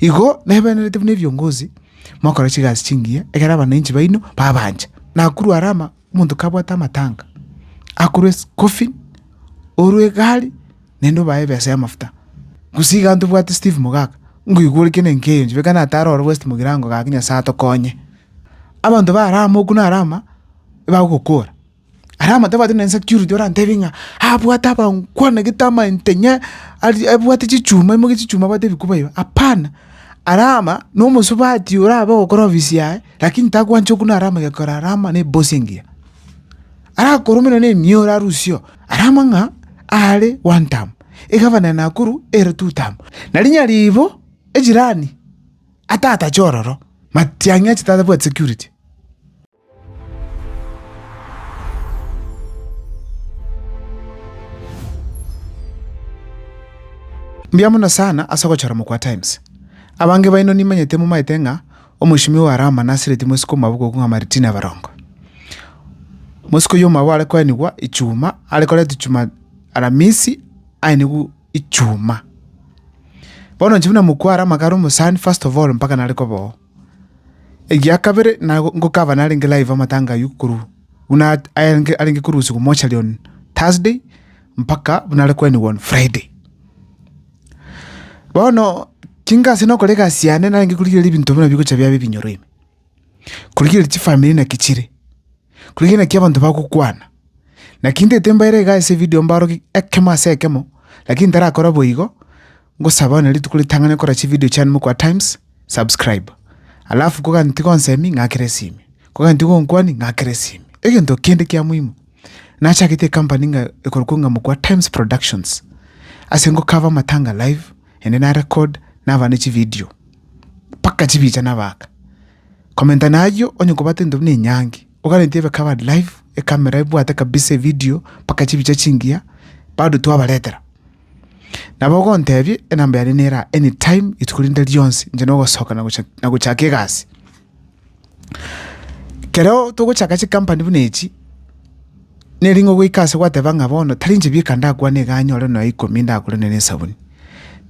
Igo nebenerete buna ebiongozi, mokore chigasi chingiya, ekero abananchi baino babancha. Nakorwa are ama, omonto kabwate amatanga, akorwe ase coffin, orwe egari, naende obae ebesa y'amafuta. Gose iga ntobwate Steve Mogaka, ngoigwa ore kene nkeyo inche, beka natare ororo West Mogirango gaki Nyasae atokonye. Abanto bare amo okwo nare ama, ebagokora, Aria amatabwati na insecurity orantebie ng'a abwate abangwana gete amaintenye ari abwate chichuma aimoke chichuma abwate ebikuba iba, hapana, aria ama na omosubati orabe ogokora ofisi yaye lakini takwancha okuna aria ama gekogera aria ama na ebosi engiya. Arakoromera na emioro arusiyo aria ama ng'a are one term, egavana ya Nakuru ere two term, nari nyaribo ejirani atatache ororo, matiang'i ache tatabwati security. Mbuya mono sana ase ogochora mokwa Times. Abange baino nimanyete momaete ng'a omochimi o Arama nasireti mosike omwabo goku ng'a Martina Barongo. Mosike oyio omwabo are koenigwa Ichuma are koretwa Juma Aramisi aenigwe Ichuma. Bono inche buna mokwa Arama kare omosani first of all mpaka nare koba oo. Egia kabere nago ngokaba narenge live amatanga ayio korwa buna arenge arenge korusigwa mortuary on Thursday mpaka buna are kwenigwa on Friday. Bono chinga ase nokora egasi yane narenge korigereria ebinto buna bigocha biabe ebinyoro ime, korigereria chifamiri naki chire, korigereria naki abanto bagokwana. Naki ntete mbaere iga ase evidio mbaroki ekemo ase ekemo, lakini ntarakora boigo. Ngosaba one rituko ritang'ani okora chividio chiane mokwa times subscribe alafu kogani tigonsemi ng'akere esimi kogani tigonkwani ng'akere esimi egento kende kia muhimu nachagete ecompany ng'a ekorokwa ng'a mokwa times productions ase ngokava amatanga live ende na record nabane chividio mpaka chibicha nabaka komenta nayio onye kobate into buna enyangi ogarente ebe covered live ekamera ebwate kabisa evidio mpaka chibicha chingiya bado twabaretera Nabo ogontebie enamba yane nera anytime rituko rinde rionsi inche nogosoka na gocha- na gochaka egasi. Kereo togochaka chikampani buna echi, neri ng'a ogoika ase gwateba ng'a bono tari inche bieka ndakwane iga anyore nonya ikomi ndagure nonya na esabuni,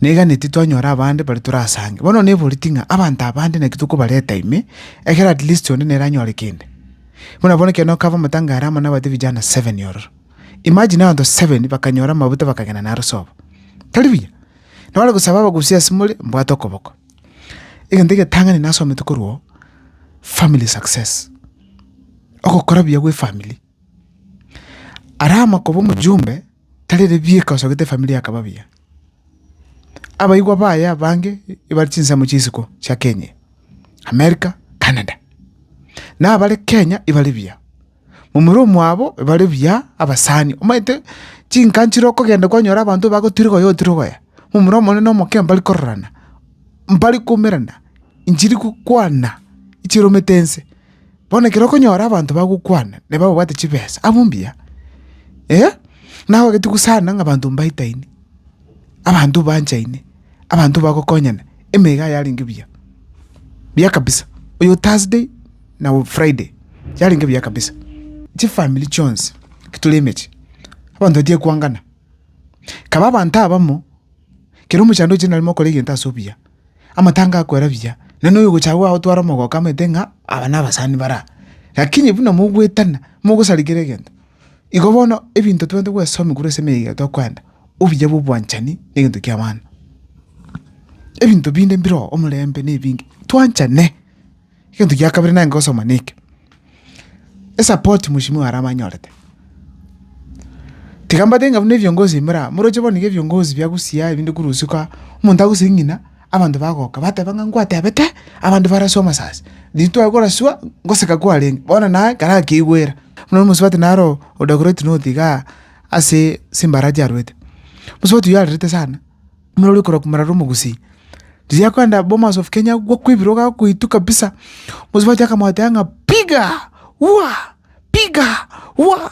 naiganeti twanyora abande baria torasange. Bono neboreti ng'a abanto abande naki tokobareta ime, ekero atleast onde nere anyore kende. Buna bono ekero nokaba omotango are amo nabaete vijana seven ororo. Imagine abanto seven bakanyora amaguta bakagenda naro sobo. Tari buya? Nore gosaba abagusia ase more mbwate okoboko. Egento egetang'ani nasomete korwa oo, family success. Ogokora buya gw'efamiri. Arama koba omojumbe, tari ere bieka osagete efamiri yakaba buya. Abaigwa baye abange ebare chinsemo chia isiko chia Kenya eye, America, Canada. Nabare Kenya ebare buya. momura omwabo bare buya abasani, omanyete chinka nchire okogenda kwanyora abanto bagotirigoya otirigoya, momura omonene omoke mbari kororana, mbari koumerana, nchiri gokwana chiromete ense. Bono ekero okonyora abanto bagokwana nabo babwate chibesa, abwo mbuya, naye ogatiga gosana ng'a abanto mbaetaine. abanto mbanchaine, abanto mbagokonyana, emegao yarenge buya, buya kabisa. Oyo Thursday na Friday yarenge buya kabisa, chifamiri chionsi tore emechie, abanto batiga koangana. Kaba abanto abamo, kero omochando oyochire nare mokore egento ase obuya, amatanga akoera buya, nonya noyo ogochagua ago otware omogoko amanyete ng'a aba nabasani baraa. Lakini buna mogoetana, mogosarigera egento. Igo bono ebinto twabate goesoma igoro ase emeyega yaito tokoenda, obuya bwa obwanchani na egento kia abana. Ebinto binde mbire oo, omorembe na ebinge, twanchane. Egento gia kabere nare ngosoma na eke, esapoti mweshimiwa aria abanyorete, tiga mbwate ng'a buna ebiongozi bire aa, moroche bono iga ebiongozi bia gusii aa ebinde korwa usiku aa, omonto agosie ng'ina. Abanto bagoka, bateba ng'a nkwatebete, Abanto baraswa amasasi, nintwae koraswa ngoseka kwarenge, bono naye karakigwera. Buna omosubati naro odagoreti noti igaa ase simbara chiarwete. Omosubati oyio arerete sana, buna oria okorokwa Morara Omogusii. Riria akoenda Bomas of Kenya agwo kwebirogo akoitwa kabisa, omosubati akamoteba ng'a piga! Wua! Piga! Wua!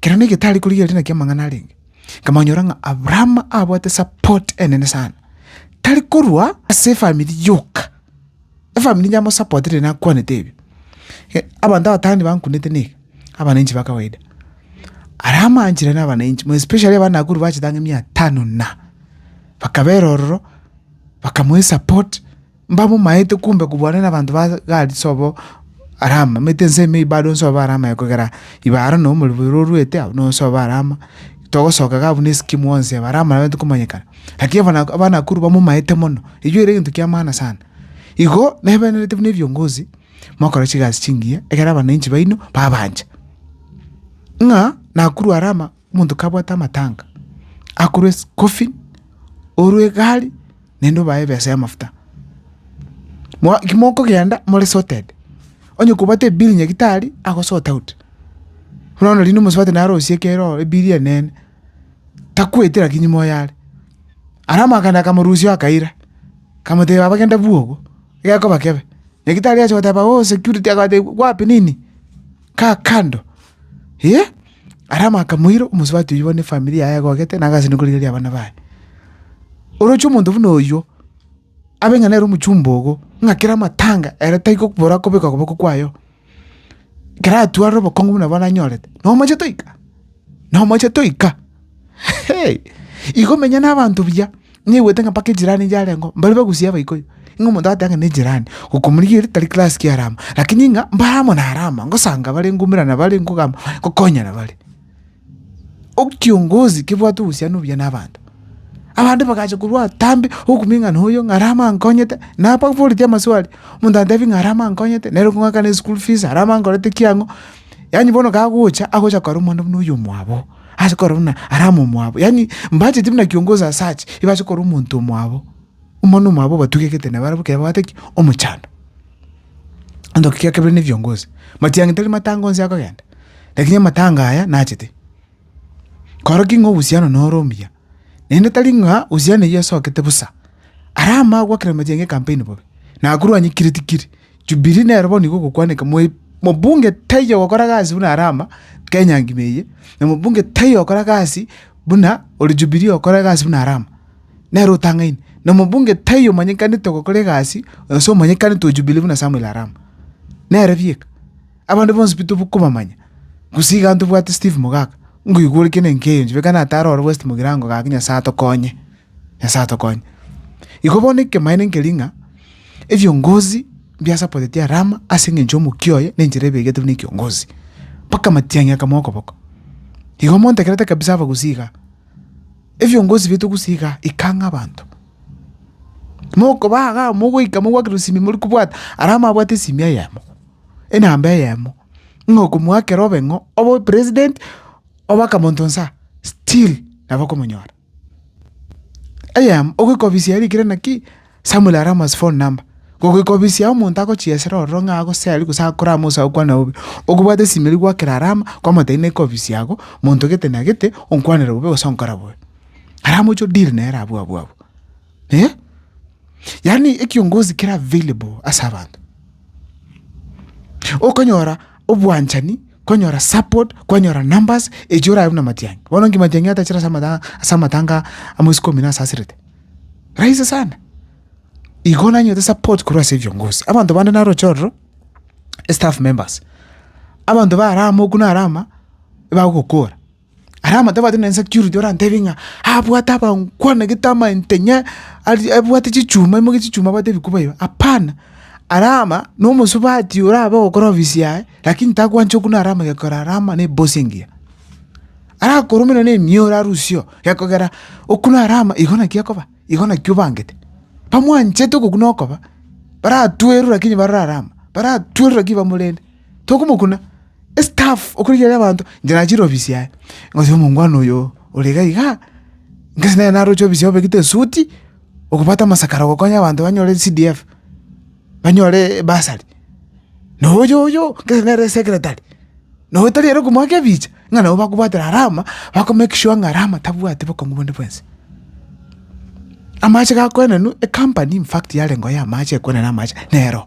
kero negete are korigereria naki amang'ana arenge, nkamanyora ng'a Abraham abwate support enene sana, tari korwa ase efamiri yoka, efamiri yamosapoteire nakwanete ebi, abanto abatano bankunete neke, abananchi ba kawaida, aria amanchire na abananchi more especially abana Nakuru bachete ang'e mia tano na, bakabera ororo, bakamoa esupport. Mbabomaete kumbe kobua nere abanto ba Gadi sobo Rama, mete ense ime ibare onse obe Rama yaye kogera ibare na omoribero orwete abwo nonse obe Rama, togosoka iga abwo na esiki mwonsi aba Rama nababete komanyekana. Lakini abana Abanakuru bamomaete mono, eywo ere egento ki'amana sana. Igo nebenerete buna ebiongozi, mokora chigasi chingiya, ekero abananchi baino babancha. Ng'a Nakuru Rama. Omonto kabwate amatanga, akorwa eschoolfee, orwe egari, naende obae ebesa y'amafuta. Mwa kimokogenda more sorted, onye kobwate ebill nyagetari ago sort out, bono rende omosubati naye arosie ekero ororo ebill enene, takwete lakini moyo are. Ara amakanda akamorusia oyo akaira, kamotebia baba genda bua obo, gekoba kebe. Nyagetari agocha goteba oo security agateba wapi nini? Kaa kando, eeh. Aramu akamoira, omosubati oyio bono efamiri yaye egogete na agase nokorigereria abana baye. Oroche omonto buna oyio, abe ng'a nere omochumba ogo, ng'a kera amatanga ere tai gokobora kobeka okoboko kwaye oo. Kera atwarire obokong'u buna bono anyorete, nomochete oika, nomochete oika. Igo menya nabanto buya, naigwete ng'a mpaka ejirani yarengeo mbare bagusie abaikoyo, ng'a omonto agoteba ng'a nejirani, okomorigia ere tari class ki arama, lakini ng'a mbare amo narama, ngosanga bare ngoimerana bare ngogamba bare ngokonyana bare. Ekiongozi kebwate obosia nobuya nabanto, abande bagacha korwa atambe okumia ng'a noyo ng'a arama ankonyete, nababoretie amaswali, omonto atebi ng'a arama ankonyete nere okong'akana eschool fees, arama ankorete ki ang'o, yaani bono kagocha agocha kora omwana buna oyomwabo. ase korora buna arama omwabo, yaani mbacheti buna kiongozi as such, ebase korora omonto omwabo, omwana omwabo obatugekete nabo barabwo ekero babwate ki? omochando. Egento kia kabere ne ebiongozi, matiang'i tari matanga onsi akogenda, lakini amatanga aya nachete. Koroking'a obohusiano noro omuya. naende tari ng'a Hosiana eyio asokete bosa, ara amanye goakera amachanga e kampaini bobe, na akorwanie kiri tikiri. Jubili nero bono igo ogokwaneka, mobunge taiyo ogokora gasi buna are ama, Kenya ngima eye, na mobunge taiyo ogokora gasi buna ore Jubili ogokora egasi buna are ama, nere otang'aine. Na mobunge taiyo omanyekanete ogokora egasi, gose omanyekanete o Jubili buna Samuel are ama, nere bieka. Abande bonsi pi tokobamanya, gose iga ntobwate Steve mogaka, ngoigwa ore kene enkeyo inche, beka natare ore West mogirango gaki, Nyasae atokonye, Nyasae atokonye. Igo bono ekemaene nkeria ng'a ebiongozi mbiasapoteti Alama ase eng'encho y'omokia oye na enchera ebegetwe na ekiongozi, mpaka matiang'i akamoa okoboko. Igo montegerete kabisa aba gose iga, ebiongozi biaito gose iga ikang'a abanto. Mokoba igaa mogoika mogwaki rosimi morikobwata, Alama abwate esimi eyemo. enamba eyemo, ng'a okomoakera obe ng'o, obe opresident, obe akamonto nsa, still nabo okomonyora. Eyemo, ogoikobisia erikire naki, Samuel Arama's phone number, gogoikobisia omonto agochiesera ororo ng'a agose aria gose akore amo gose agokwane bobe, okobwate esimi eria gwaakera Arama, kwamotebia naika ofisi yago, monto gete na gete, onkwanere bobe gose onkore bobe. Arama oche odeal nere abwo abwo abwo. Eh? Yaani ekiongozi kere available ase abanto. Okonyora obwanchani, konyora support, konyora numbers echo orae buna Matiang'i. Bono nki Matiang'i atachire ase amata- ase amatanga a mwezi kumi nase asirete? Rahisi sana. Igo nanyorete support korwa ase ebiongozi. Abanto bande naroche ororo, staff members. Abanto barama okwo narama, ebagokora. Aria amatabwati na insecurity orantebie ng'a abwate abangwana egete amaintenye ari abwate chichuma aimoke chichuma abwate ebikuba iba, hapana, aria ama na omosubati orabe ogokora ofisi yaye lakini tagwancha okuna aria ama gekogera aria ama na ebosi engiya. Arakoromera na emioro arusio gekogera okuna aria ama igo naki ekoba, igo naki obangete. Bamwanchete ogokuna okoba, baratwerwe lakini barore aria ama, baratwerwe lakini bamorende, tokomokuna. estaff okorigia aria abanto, inche nachire ofisi yaye, ngotebia omongwana oyo ore iga iga, ngase nere naroche ofisi yaye obegete esuti, okobwate amasakara ogokonya abanto banyore CDF, banyore bursary, na oyo oyo, ngase nere esecretary, na oyo tari ere okomoaka ebicha, ng'a nabo bakobwatera alama, bako make sure ng'a alama tabwati bokong'u bonde bwensi. Amache gakoenenwa, ecompany infact yarenge oo ya amache ekoenena amache, nero.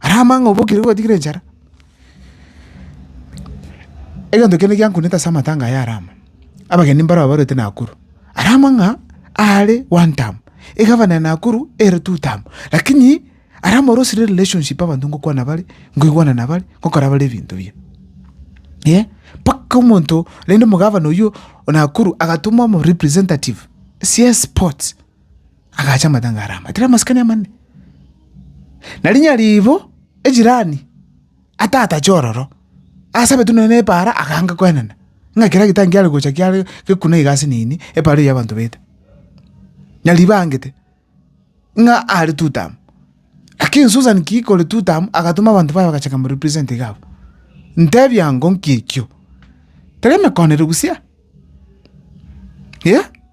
Ara amang'ana obokire gwatigire enchara? Egento kende giankunete ase amatanga aya ara amo, abageni mbaro abarwete Nakuru. Ara amang'a aare one term, egavana ya Nakuru ere two term, lakini ara amorosire relationship abanto ngokwana bare, ngoigwana nabare, ngokora bare ebinto biya. Eeh, mpaka omonto rende omogavana oywo o Nakuru agatoma omorepresentative CS sports. Agacha amatanga aria amatera amasikani amanene. Na rinyaribo ejirani atatache ororo, asabetwe nonya na epaara akange koenena, ng'a ekero egetani kiare gocha kiare gekuna iga ase nini, epaara eyio y'abanto baete. Nyaribo aangete, ng'a are tutam, lakini Susan ki kore tutam, agatoma abanto baye bagacha komo represent iga abwo. Ntebi ango nki ekio? Tari emekonere gusii aa, eeh.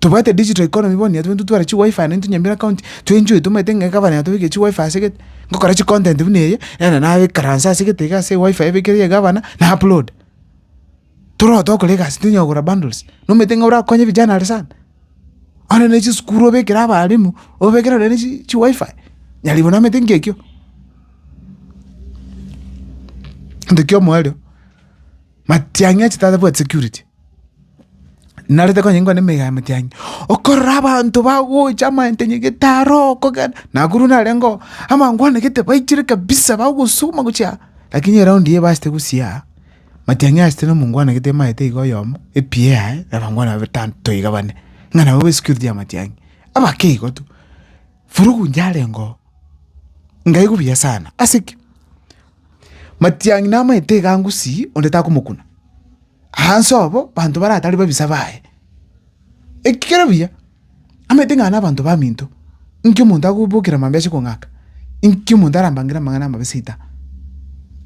Tobwate digital economy bono nigo tobwenerete tware chiwifi aye intwe Nyamira county, to enjoy tomanyete ng'a egavana yatobekire chiwifi ase gete, ngokora chicontent buna eye, nere nabekaranse ase gete iga ase ewifi ebekire ya egavana, na upload. Torogote gokora egasi tonya kogora bundles, nomanyete ng'a orakonye vijana are sana. Onde ne chisukuru obekere abalimu, obekere nonye ne chi chiwifi, nyarigwe namanyete ngekio, gento kia omoerio. Matiang'i ache tatabwati security, narete konya ninkwane emega ya matiang'i, okorora abanto bagocha amayentenyi gete aro okogenda, nakuru narengeo amangwana gete baichire kabisa bagosuma gochia aa, lakini eraundi eye ebasete gosia aa, matiang'i asete na omongwana gete emaete iga oyomo, epi eyaye na abangwana babe batano toiga bane, ng'a nabo ba esecurity ya matiang'i, abake igo tu. Furugu inche arenge oo, nkaigwa buya sana, ase ki? Matiang'i namaete egangusi, onde takomokuna. Aanse obo banto baria atari babisa baye. Eki kero buya, amaete ng'a nabanto baminto, inki omonto agobokera amambia ase kong'aka? Inki omonto arambangere amang'ana amabe seita?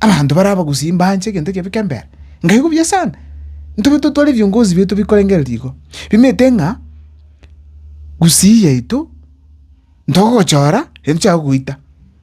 Abanto baria abagusii mbanche egento ekibe kembere. Ngai igo buya sana. Ntobe totware ebiongozi biaito bikorengereria igo, bimaete ng'a gusii yaito ntogochora, yaani tochaka goita.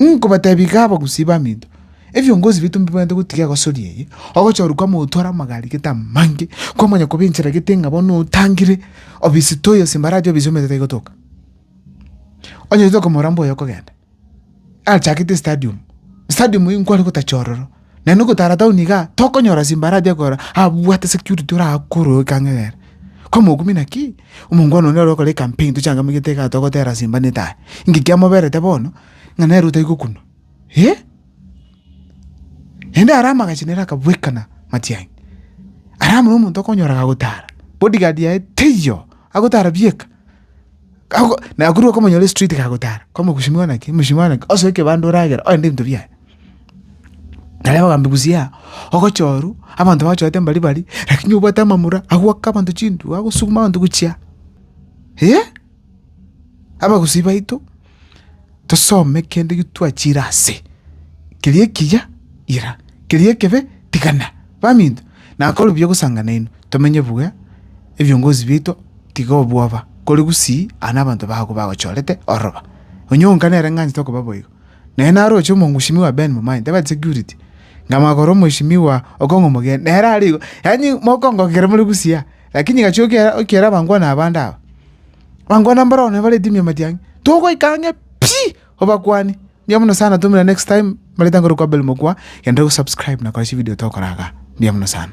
Nkobateebia iga abagusii baminto, ebiongozi biaito mbibaneete gotiga egosori eye, ogocha oria kwama otware amagari gete amange, kwama onye koba enchera gete ng'a bono otangire obisi toi ase embaraasi obisi omanyete taigotoka. Onye totoka omorambe oyo okogenda, achakete estadium, stadium eye nkware gotacha ororo. Naende ogotara town igaa, tokonyora simbara aria akogora abwate security orakore ekang'egera. Kwa mogumi naki, omongwana onde arokore ecampaign tochangamigete igaa togotera simba ne taai. Inki kiamoberete bono, ng'a nere otari gokuna. Hee? Naende aria amagacho nere akabwekana matiang'i. Aria buna omonto okonyoraga agotara, bodyguard yaye teiyo, agotara bieka. Gago na korwa okomonyora estreet gagotara kwamo mheshimiwa naki mheshimiwa naki osoe ekebanda oragera ogende ebinto biaye. Naye ogambia busiaa ogocha orwa abanto bagochorete mbari bari lakini obwate amamura agoaka abanto chintuo agosuguma abanto gochia abagusi baito. tosome kende getwachire ase, keria ekiya ira, keria ekebe tigana, baminto nakore buya gosanga nainwe, tomenye buya, ebiongozi biaito tiga obwoba, kore gusii aa nabanto bago bagochorete ororo, onye onka nere ng'a anchete okoba boigo, naye naroche omogushimiwa Ben mobaye ntebe ati security, na magoro omoishimiwa Okong'o omogeni, nere arigo, yaani mokongo kere more gusii aa, lakini gachi okiera okiera abankwano abande aba. Bankwana mbarabwo naye bareti mia matiang'e, togoika ang'e pi! Obakwani. Mbuya mono sana tumira next time mbareta nkore kwa Abel Mokua, genda ore go subscribe na kora chividio tokora igaa. Mbuya mono sana.